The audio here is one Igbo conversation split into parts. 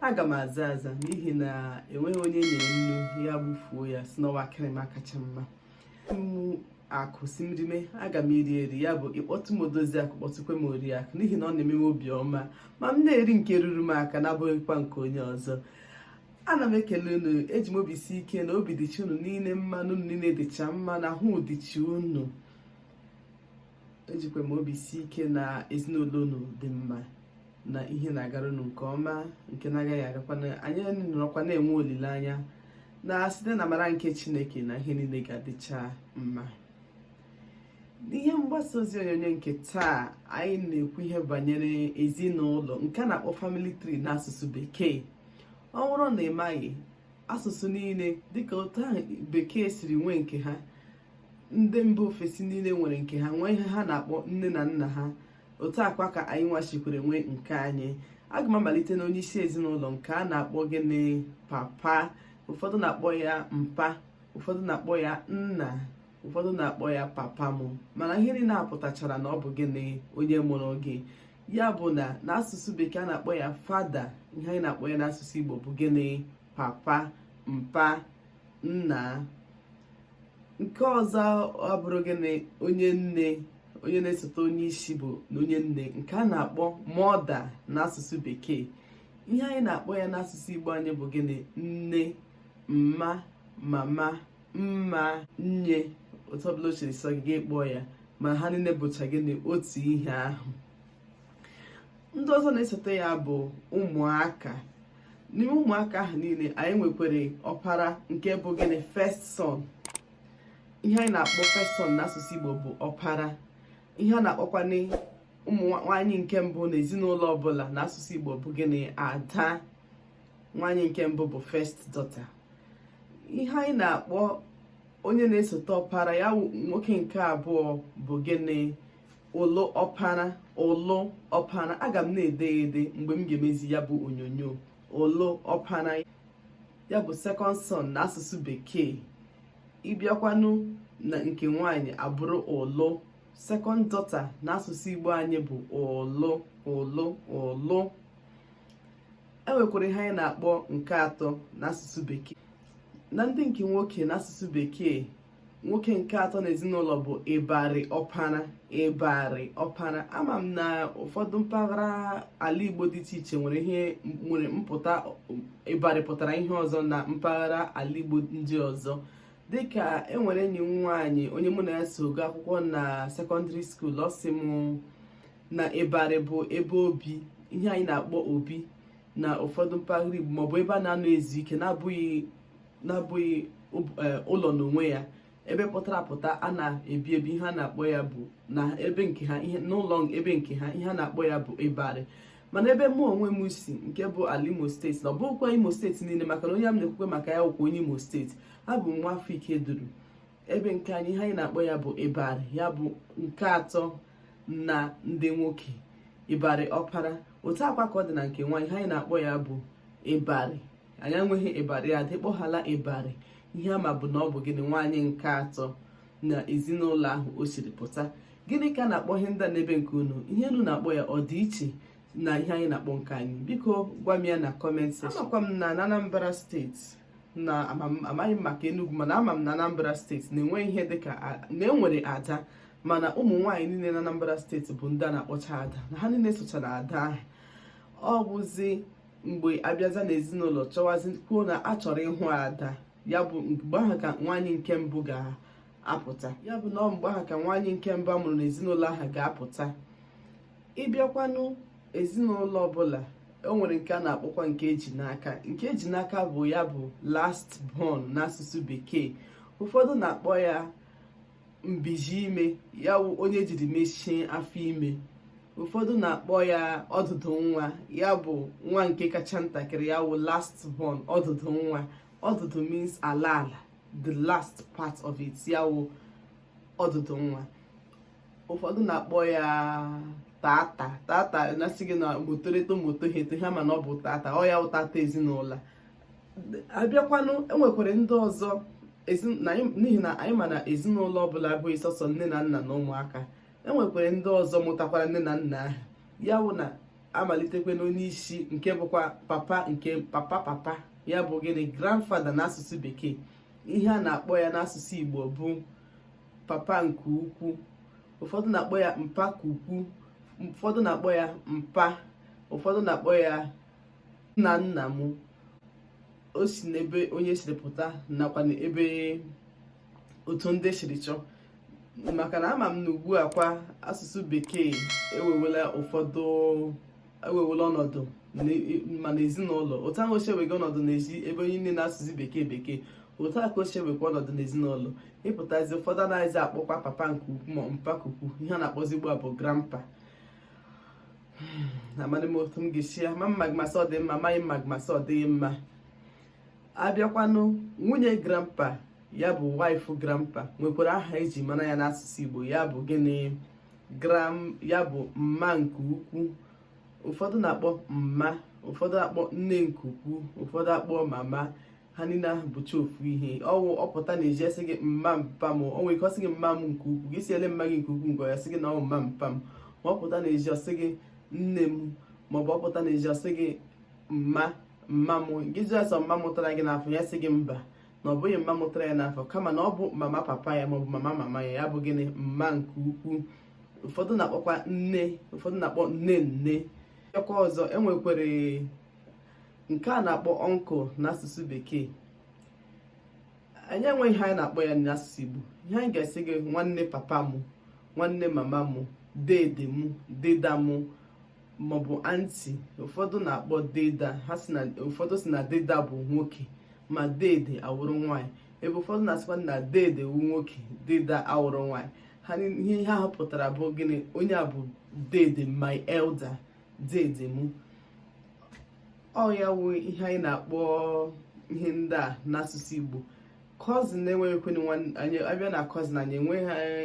aga m aza aza n'ihi na enweghị onye nyere nnu ya gbufuo ya sị na ọ wụ akịrịma kacha mma mụ akụ sị m rime aga m eri eri ya bụ ị kpọtụ m odozi akụ kpọtụkwe m ori akụ n'ihi na ọ na-eme m obi ọma ma m na-eri nke ruru m aka na-abụghịkwa nke onye ọzọ ana m ekele unu eji m obi si ike na obi dịcha unu niile mma na unu niile dịcha mma na ahụ dịcha unu ejikwa m obi si ike na ezinụlọ unu dị mma na ihe na-agara unu nke ọma nke na-agaghị agakwa anyị nọrọkwa na-enwe olileanya na site n'amara nke chineke na ihe niile ga-adịcha mma n'ihe mgbasa ozi onyonyo nke taa anyị na-ekwu ihe banyere ezinụlọ nke a na-akpọ family tree n'asụsụ bekee ọ bụrụ na ị maghị asụsụ niile dịka otu ahụ bekee siri nwee nke ha ndị mba ofesi niile nwere nke ha nwee ihe ha na-akpọ nne na nna ha otu a kwa ka anyị nwa sikwere nwee nke anyị aga m amalite na onye isi ezinụlọ nke a na-akpọ gịnị papa ụfọdụ na-akpọ ya mpa ụfọdụ na-akpọ ya nna ụfọdụ na-akpọ ya papa m mana ihe niile a pụtachara na ọ bụ gịnị onye mụrụ gị ya bụ na n'asụsụ bekee a na-akpọ ya father ihe anyị na-akpọ ya n'asụsụ igbo bụ gịnị papa mpa nna nke ọzọ abụrụ gịnị onye nne onye na-esote onye isi bụ na onye nne nke a na-akpọ mother n'asụsụ bekee ihe anyị na-akpọ ya n'asụsụ igbo anyị bụ gịnị nne mma mama mma nne otu ọbụla o siri sọ gị kpọọ ya ma ha niile bụcha gịnị otu ihe ahụ ndị ọzọ na-esote ya bụ ụmụaka n'ime ụmụaka ahụ niile anyị nwekwere ọpara nke bụ gịnị first son ihe anyị na-akpọ first son n'asụsụ Igbo bụ ọpara ihe a na-akpọkwanụ ụmụ nwaanyị nke mbụ na ezinụlọ ọbụla n'asụsụ Igbo bụ gịnị ada nwaanyị nke mbụ bụ first daughter ihe anyị na-akpọ onye na-esote ọpara ya nwoke nke abụọ bụ gịnị ụlụ ọpara ụlụ ọpara aga m na-ede ya ede mgbe m ga-emezi ya bụ onyonyo ụlụ ọpara ya bụ second son na asụsụ bekee ị bịakwanụ na nke nwanyị abụrụ ụlụ second daughter na asụsụ igbo anyị bụ ụlụ ụlụ ụlụ e nwekwara ihe anyị na-akpọ nke atọ n'asụsụ bekee na ndị nke nwoke n'asụsụ bekee nwoke nke atọ n'ezinụlọ bụ ịbarị ọpara ịbarị ọpara ama m na ụfọdụ mpaghara ala igbo dị iche iche nwere ihe nwere mpụta ịbarị pụtara ihe ọzọ na mpaghara ala igbo ndị ọzọ dịka enwere enyi m nwaanyị onye mụ na ya so gaa akwụkwọ na secondary school ọ sị m na ịbarị bụ ebe obi ihe anyị na-akpọ obi na ụfọdụ mpaghara igbo maọbụ ebe a na-anọ ezu ike na-abụghị na-abụghị e, ụlọ n'onwe ya ebe pụtara apụta a na-ebi ebi ihe a na-akpọ ya bụ na ebe nke ha ihe n'ụlọ ebe nke ha ihe a na-akpọ ya bụ ịbarị mana ebe mụ onwe m si nke bụ ala imo state na ọ bụghịkwa imo state niile maka na onye m na-ekwukwe maka ya wụkwa onye imo state abụ m nwa afọ ikeduru ebe nke anyị ihe anyị na-akpọ ya bụ ịbarị ya bụ nke atọ na ndị nwoke ịbarị ọpara otu a kwa ka ọ dị na nke nwaanyị ihe anyị na-akpọ ya bụ ịbarị anyị enweghị ịbarị ada ị kpọghala ịbarị ihe ama bụ na ọ bụ gịnị nwaanyị nke atọ na ezinụlọ ahụ o siri pụta gịnị ka a na-akpọ ihe ndị n'ebe nke unu ihe unu na-akpọ ya ọ dị iche na ihe anyị na-akpọ nke anyị biko gwa m ya na comment section amakwa m na Anambra state na amaghị m maka Enugu mana ama m na Anambra state na-enwe ihe dịka na enwere ada mana ụmụ nwaanyị niile na Anambra state bụ ndị a na-akpọcha ada na ha niile sochara ada ahụ ọ bụzi mgbe abịaza na ezinụlọ chọwazi kwuo na a chọrọ ịhụ ada ya bụ mgbe ahụ ka nwaanyị nke mbụ ga-apụta ya bụ na mgbe ahụ ka nwaanyị nke mbụ amụrụ na ezinụlọ ahụ ga-apụta ịbịakwanụ ezinụlọ ọbụla o nwere nke a na-akpọkwa nke eji n'aka nke eji n'aka bụ ya bụ last born n'asụsụ bekee ụfọdụ na-akpọ ya mbizi ime ya wụ onye jiri mechie afọ ime ụfọdụ na-akpọ ya ọdụdụ nwa ya bụ nwa nke kacha ntakịrị ya wụ last born ọdụdụ nwa ọdụdụ means ala ala the last part of it ya wụ ọdụdụ nwa ụfọdụ na-akpọ ya tata tata na-asị gị na motorito moto hete ha mana ọ bụ tata ọ ya wụ tata ezinụlọ abịakwanụ enwekwere ndị ọzọ n'ihi na anyị ma na ezinụlọ ọbụla abụghị sọsọ nne na nna na ụmụaka enwekwere ndị ọzọ mụtakwara nne na nna ahụ ya bụ na amalitekwe n'onye isi nke bụkwa papa nke papa papa ya bụ gịnị grandfather na asụsụ bekee ihe a na-akpọ ya n'asụsụ igbo bụ papa nke ukwu ụfọdụ na-akpọ ya mpa ka ukwu ụfọdụ na-akpọ ya mpa ụfọdụ na-akpọ ya nna nna m o si n'ebe onye siri pụta nakwanụ ebe otu ndị siri chọọ maka na ama m na ugbu a kwa asụsụ bekee ewewela ụfọdụ ewewela ọnọdụ ma na ezinụlọ otu ahụ o si ewega ọnọdụ n'ezi ebe anyị niile na-asụzi bekee bekee otu a ka o si ewekwa ọnọdụ n'ezinụlọ ịpụtazi ụfọdụ anaghịzi akpọkwa papa nke ukwu ma mpa nke ukwu ihe a na-akpọzi ugbu a bụ grandpa hmm, amadị m otu m ga-esi ya amaghị m ma m ga-asị ọ dị mma amaghị m ma m ga-asị ọ dịghị mma abịakwanụ nwunye grandpa ya bụ wife grandpa nwekwara aha eji mara ya n'asụsụ Igbo ya bụ gịnị grandma ya bụ mma nke ukwu ụfọdụ na-akpọ mma ụfọdụ na-akpọ nne nke ukwu ụfọdụ akpọ mama ha niile ahụ bụcha ofu ihe ọ wụ ọ pụta n'ezi a sị gị mma mpa m o nwere ike ọ sị gị mma m nke ukwuu gị sị olee mma gị nke ukwuu ngwa ya sị gị na ọ wụ mma mpa m ma ọ pụta n'ezi ọ sị gị nne m maọbụ ọ pụta n'ezi ọ sị gị mma mma m gị jụọ ya sị ọ mma mụtara gị n'afọ ya sị gị mba na ọ bụghị mma mụtara ya n'afọ kama na ọ bụ mama papa ya maọbụ mama mama ya ya bụ gịnị mma nke ukwuu ụfọdụ na-akpọkwa nne ụfọdụ na-akpọ nne nne ọkwa ọzọ enwekwere nke a na-akpọ uncle n'asụsụ bekee anyị enweghị ihe anyị na-akpọ ya n'asụsụ igbo ihe anyị ga-asị gị nwanne papa m nwanne mama m dede m deda m maọbụ aunty ụfọdụ na-akpọ deda ha sị na ụfọdụ sị na deda bụ nwoke ma dede awụrụ nwaanyị ebe ụfọdụ na-asịkwa na dede wụ nwoke deda awụrụ nwaanyị ha ihe ha pụtara bụ gịnị onye a bụ dede my elder dede m ọ ya wụ ihe anyị na-akpọ ihe ndị a n'asụsụ Igbo cousin na-enweghị ekwenye anyị abịa na cousin anyị enweghị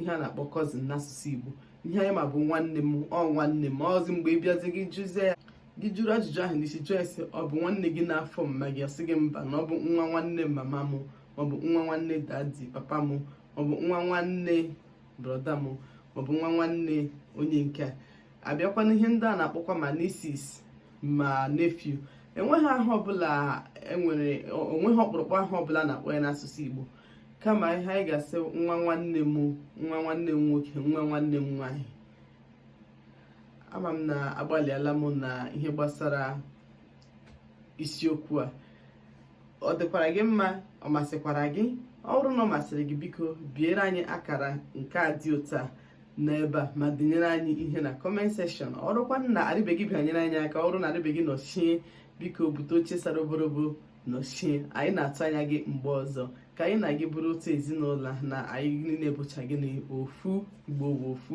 ihe a na-akpọ cousin n'asụsụ Igbo ihe anyị ma bụ nwanne m ọ nwanne m ọ bụzi mgbe ị bịazi gị jụzie ya gị jụrụ ajụjụ ahụ n'isi jụọ ya sị ọ bụ nwanne gị n'afọ mma gị asị gị mba na ọ bụ nwa nwanne mama m maọbụ nwa nwanne daddy papa m maọbụ nwa nwanne brother m maọbụ nwa nwanne onye nke a abịakwanụ ihe ndị a na-akpọkwa ma nieces ma nephew enweghị aha ọbụla enwere enweghị ọkpụrụkpụ aha ọbụla a na-akpọ ya n'asụsụ Igbo kama ihe anyị ga-asị nwa nwanne m nwa nwanne m nwoke nwa nwanne m nwaanyị ama m na agbalịala m na ihe gbasara isiokwu a ọ dịkwara gị mma ọ masịkwara gị ọ bụrụ na ọ masịrị gị biko biere anyị akara nke a dị otu a n'ebe a ma denyere anyị ihe na comment section ọ bụrụkwa na arịbeghị bịanyere anyị aka ọ bụrụ na arịbeghị nọchie biko bute oche sara oborobo nọchie anyị na-atụ anya gị mgbe ọzọ ka anyị na gị bụrụ otu ezinụlọ na anyị niile bụcha gịnị ofu igbo wụ ofu